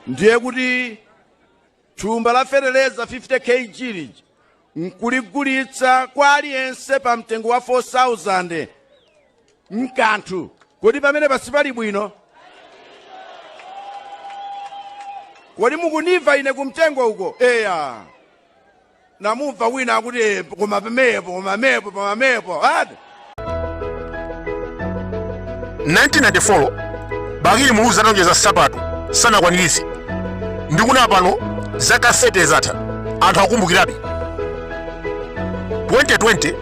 ndiye kuti thumba la feteleza 50 kg lija nkuligulitsa kwa aliyense pa mtengo wa 4000 mkanthu kodi pamene pasili bwino kodi mukundimva ine kumtengo uko eya namumva wina akuti "Eh, koma pamenepo koma pamenepo koma pamenepo ati 1994 bakili muluzi atalonjeza nsapato sanakwaniritse ndi kuno pano zaka 30 zatha anthu akumbukirabe 2020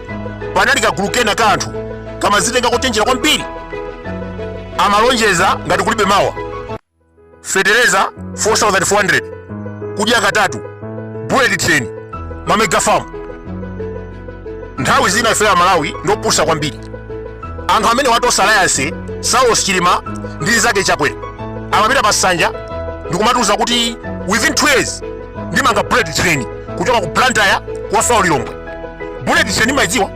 panali kagulu kena ka anthu kamadzitenga kochenjera kwambiri amalonjeza ngati kulibe mawa fetereza 4400 kudya katatu bullet train ma mega farm nthawi zina ife amalawi ndiopusa kwambiri anthu amene wa tonse alliance saulos chilima ndi nzake chakwera amapita pa nsanja ndikumatiuza kuti within 2 years ndimanga bullet train kuchoka ku blantyre kukafika ku lilongwe bullet train mumayidziwa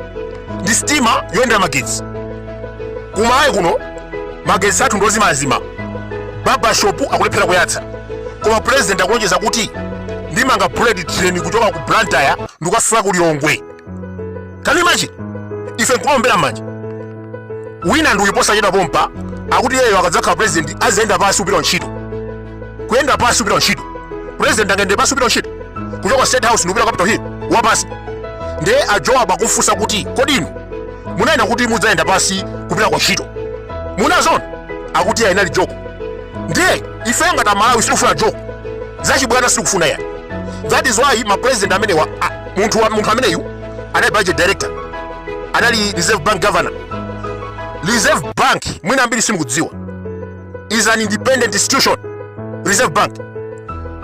ndi sitima yoyendera magetsi kumalawi kuno magetsi athu ndi ozimazima barbershop akulephera kuyatsa koma president akulonjeza kuti ndimanga bullet train kuchoka ku blantyre ndikukafika ku lilongwe can you imagine ife nkumaombera m'manja wina ndi uyu posachedwa pompano akuti yeyo akadzakhala president azayenda pansi kupita kuntchito kuyenda pansi kupita kuntchito president angayende pansi kupita kuntchito kuchoka state house ndikupita capital hill wapansi ndiye ajowa pomufunsa kuti kodi inu munanena kuti mudzayenda pansi kupita kuntchito munaona akuti ayi inali joko ndiye ife ngati amalawi sitikufuna joko zachibwana sitikufuna ayi that is why ma president amenewa ah, munthu wa- munthu ameneyu anali budget director anali reserve bank governor reserve bank mwina ambiri simukudziwa is an independent institution reserve bank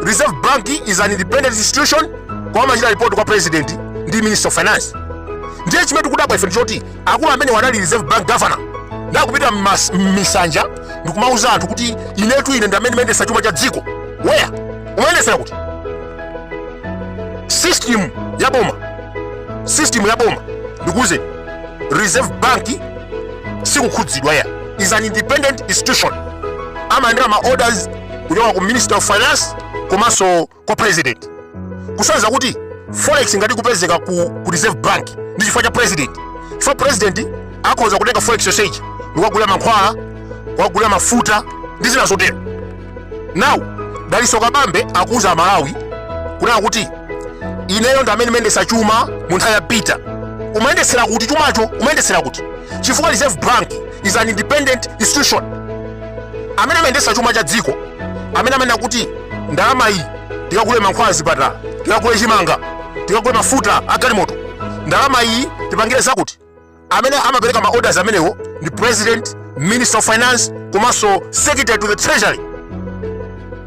reserve bank is an independent institution koma amachita report kwa president ndi minister of finance ndiye chimene tikudabwa ife ndichoti akulu amenewa anali reserve bank governor akupita mmas- m'misanja ndikumauza anthu kuti inetu ine ndi amene ndimayendetsa chuma cha dziko where umayendetsera kuti system ya boma system ya boma ndikuuze reserve bank sikukhudzidwa ayi is an independent institution amalandira ma orders kuchoka ku minister of finance komanso kwa president kusonyeza kuti forex ngati ikupezeka ku, ku reserve bank ndi chifukwa cha president chifukwa president akhoza kutenga forex yonseyi ndikukagulira mankhwala kukagulira mafuta ndi zina zotero now daliso kabambe akuuza amalawi kunena kuti ineyo ndi amene ndimayendesa chuma mu nthawi ya peter umayendesera kuti chumacho umayendesera kuti chifukwa reserve bank is an independent institution amene amayendesa chuma cha dziko amene amanena kuti ndalama iyi tikagule mankhwala azipatala tikagule chimanga tikagule mafuta a galimoto ndalama iyi tipangire zakuti amene amapereka ma orders amenewo ndi president minister of finance komanso secretary to the treasury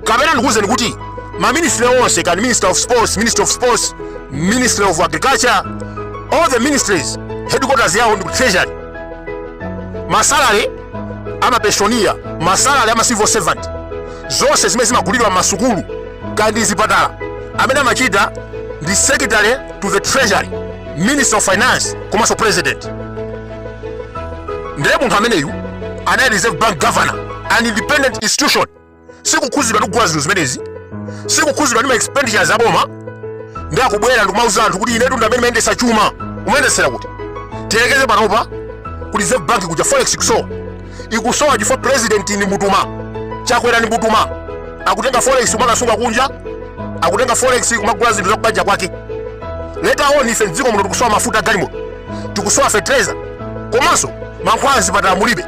kapena ndikuwuzeni kuti maministry onse kani minister of sports minister of sports ministry of agriculture all the ministries headquarters yawo ndi ku treasury masalary amapenshoniya masalary ama civil servant zonse zimene zimagulidwa m'masukulu kaya ndi zipatala amene amachita ndi secretary to the treasury minister of finance komanso president ndiye munthu ameneyu anali reserve bank governor an independent institution sikukhuzidwa ndi kugula zinthu zimenezi sikukhuzidwa ndi ma expenditures aboma ndiye akubwera ndikumauza anthu kuti inetu ndi amene ndimayendesa chuma umayendesera kuti tiyerekeze panopa ku reserve bank kuja forex ikusowa ikusowa chifukwa president ndi mbutuma chakwera ndi mbutuma akutenga forex kumakasunga kunja akutenga forex kumagula zinthu zakubanja kwake later on ife mdziko muno tikusowa mafuta agalimoto tikusowa fertilizer komanso mankhwala azipatala mulibe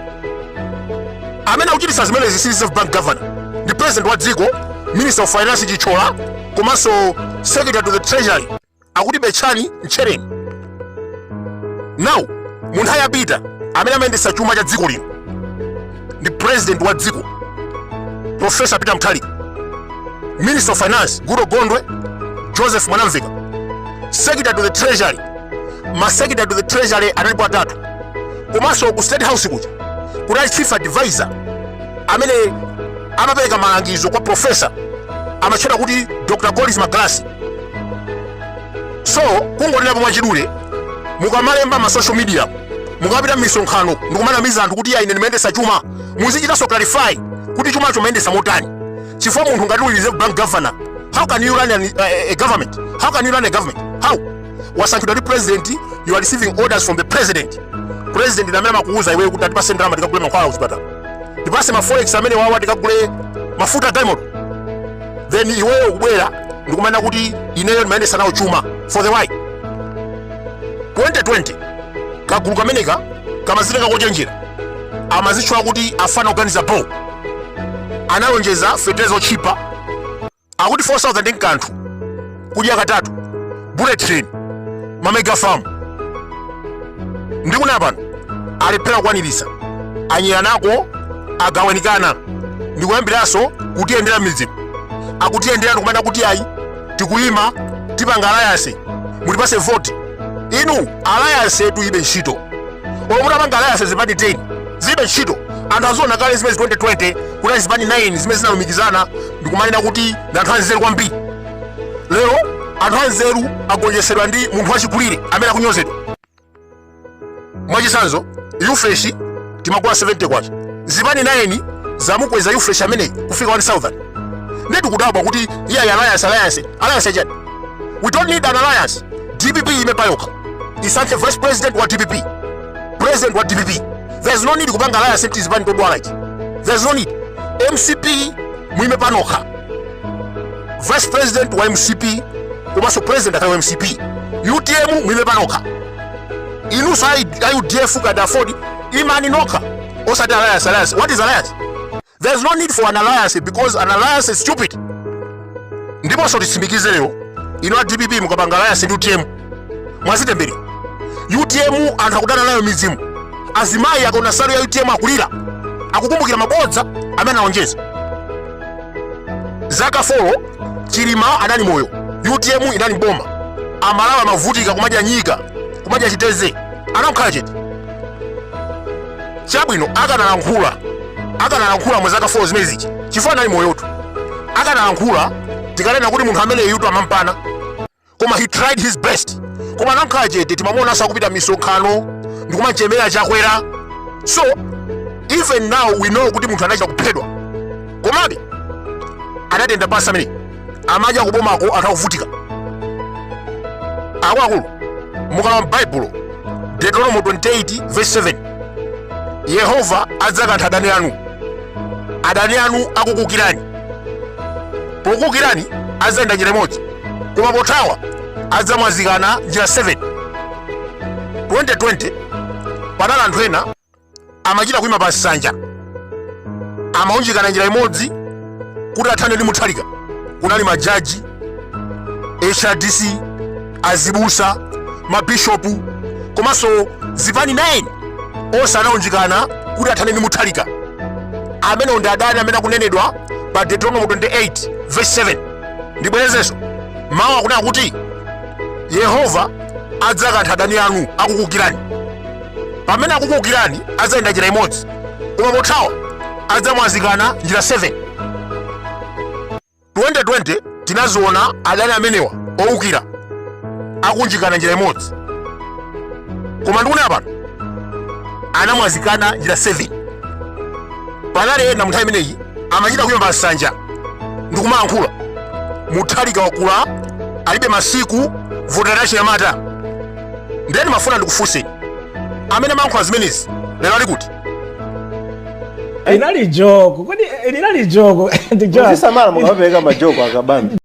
amene akuchititsa zimenezi si reserve bank governor ndi president wa dziko minister of finance chithyola komanso secretary to the treasury akuti betchani mtchereni now mu nthawi ya peter amene amayendetsa chuma cha dziko lino ndi president wa dziko profesa peter mutharika minister of finance goodall gondwe joseph mwanamveka secretary to the treasury masecretary to the treasury analipo atatu komanso ku state house kuja kunali chief advisor amene amapereka malangizo kwa profesa amatchedwa kuti dr collins magalasi so kungonenapo mwachidule mukamalemba ma social media mukamapita mmisonkhano ndikumanamiza anthu kuti iya ine ndimayendesa chuma muzichitanso clarify kuti chumacho mumayendesa motani chifukwa munthu ngati uli reserve bank governor how can you run an, a, a, a government how can you run a government how wasankhidwa ndi president you are receiving orders from the president president ndi amene amakuuza iweyo kuti tipase ndalama tikagule mankhwala kuchipatala tipase ma forex amenewawa tikagule mafuta diamond then iweyo kubwera ndikumanena kuti ineyo ndimayendesa nawo chuma for the why 2020 kagulu kameneka kamazitcha kochenjera amazitcha kuti afana oganiza bo analonjeza feteleza otchipa akuti 4000 ndi mkanthu kudya katatu bullet train mamega farm mpaka pano alephera kukwanirisa anyerana uko agawanikana ndikuyambiranso kutiyendera m'midzimu akutiyendera ndikumanena kuti ayi tikuyima tipanga alliance mutipatse voti inu alliance yotu ilibe ntchito oo mutapanga alliance zipani 10 zilibe ntchito anthu aziona kale zimenezi 2020 kuti zipani 9 zimene zinalumikizana ndikumanena kuti ndi anthu anzeru kwambiri lero anthu anzeru agonjetsedwa ndi munthu wachikulire amene akunyozedwa mwachitsanzo yufreshi timagula 70 kwacha zipani 9 zamukweza yufreshi ameneyi kufika 1000 ndiye tikudabwa kuti ayi ayi alliance alliance alliance chani we don't need an alliance dpp iime payokha isankhe vice president wa dpp president wa dpp there's no need kupanga alliance kuti chipani chodwala ichi there's no need mcp muime panokha vice president wa mcp komanso president akhale wa mcp utm muime panokha inunso ayi ayi udf kaya aford imani nokha osati alliance alliance what is alliance there is no need for an alliance because an alliance is stupid ndiponso nditsimikize lero ino a dpp mukapanga alliance ndi utm mwadzitemberera utm anthu akudana nayo m'midzimu azimayi akaona nsalu ya utm akulira akukumbukira mabodza amene analonjeza zaka folo chilima anali moyo utm inali mboma amalawi amavutika kumadya nyika kumadya chitedze anangokhala chete chabwino akanalankhula akanalankhula mu zaka 4 zimenezija chifukwa anali moyotu akanalankhula tikanena kuti munthu amene yutu amampana koma he tried his best koma anakhala chete timamuonanso akupita misonkhano ndikumachemera chakwera so even now we know kuti munthu anachita kuphedwa komabe anatenga pati ameneyo amadya kubomako anthu akuvutika akuluakulu mukalowa m'baibulo deuteronomo 28 verse 7 yehova adzakantha adani anu adani anu akukuukirani pokuukirani adzayenda njira imodzi koma pothawa adzamwazikana njira 7 2020 panali anthu ena amachita kuima pa nsanja amaunjikana njira imodzi kuti athane ndi muthalika kunali majaji hrdc azibusa mabishopu komanso zipani 9 onse anaunjikana kuti athane ndi muthalika amene ndi adani amene akunenedwa pa deuteronomo 28 verse 7 ndibwerezenso mawu akunena kuti yehova adzakantha adani anu akukukirani pamene akukukirani adzayenda njira imodzi koma pothawa adzamwazikana njira 7 2020 tinaziona adani amenewa owukira akunjikana njira imodzi koma ndikunena pano anamwazikana njira 7 panali ena munthawi imeneyi amachita kuyimba nsanja ndikumayankhula muthalika wakula alibe masiku votera chinyamata ndiye ndimafuna ndikufunse amene amayankhula zimenezi lero ali kuti Linali jogo. Kodi eh, linali jogo? Ndi jogo. Muzisamala mukamapereka majoko akabambi.